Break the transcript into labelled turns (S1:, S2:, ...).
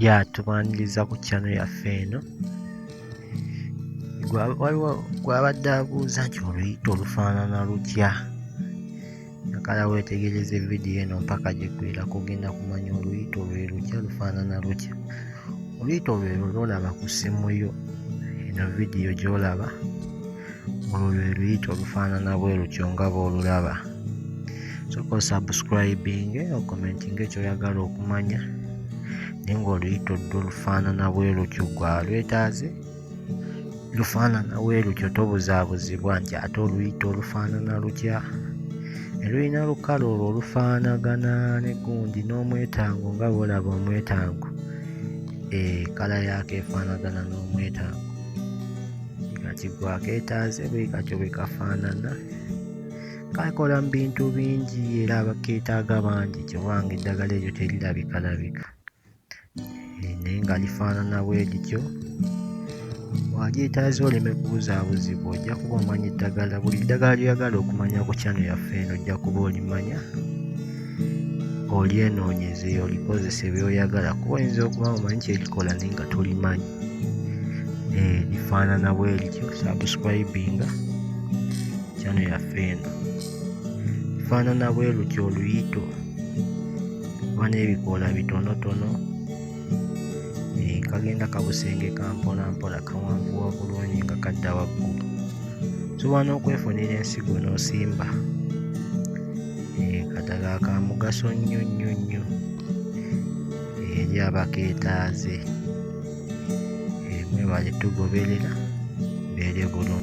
S1: ya tubaniriza ku kyano yaffe eno waliwo gwabadde abuuza nti oluyita olufaanana lutya nakala weetegereze vidiyo eno mpaka gyegwera kugenda kumanya oluyita olwe lutya lufaanana lutya oluyita olwero lwolaba ku ssimu yo eno vidiyo gyolaba olwo lwe luyita olufaanana bwe lutyo nga bw'olulaba soka osubscribing okomenting ekyoyagala okumanya naye ng'oluyita odda olufaanana bwe lutyo gwa lwetaaze lufaanana bwe lutyo tobuzaabuzibwa nti ate oluyita olufaanana lutya elulina lukale olwo olufaanagana ne gundi n'omwetango nga bwolaba omwetango ekala eh, yaako efaanagana n'omwetango nga kigwa keetaaze bwe katyo bwe kafaanana kakola mu bintu bingi era keetaaga bangi kyobanga eddagala eryo terirabikalabika eh, naye nga lifaanana bwe lityo walyetaaza oleme kubuzaabuzibwa ojja kuba omanya eddagala buli ddagala lyoyagala okumanya ku kyano yaffe eno ojja kuba olimanya olyenoonyeze olikozese byoyagala kuba oyinza okuba omanyi kyerikola naye nga tolimanyi eh, bifaanana bwerityo subscribinga kyano yaffe eno bifaanana bwerutyo oluyito oba n'ebikoola bitonotono eh, kagenda kabusenge kampola mpola kawanvuwa bulungi nga kadda waggulu osobola n'okwefunira ensigo n'osimba eh, kadala ka mugaso nnyo nnyo nnyo eri abaketaaze mwebale tugoberera mbeere bulungi.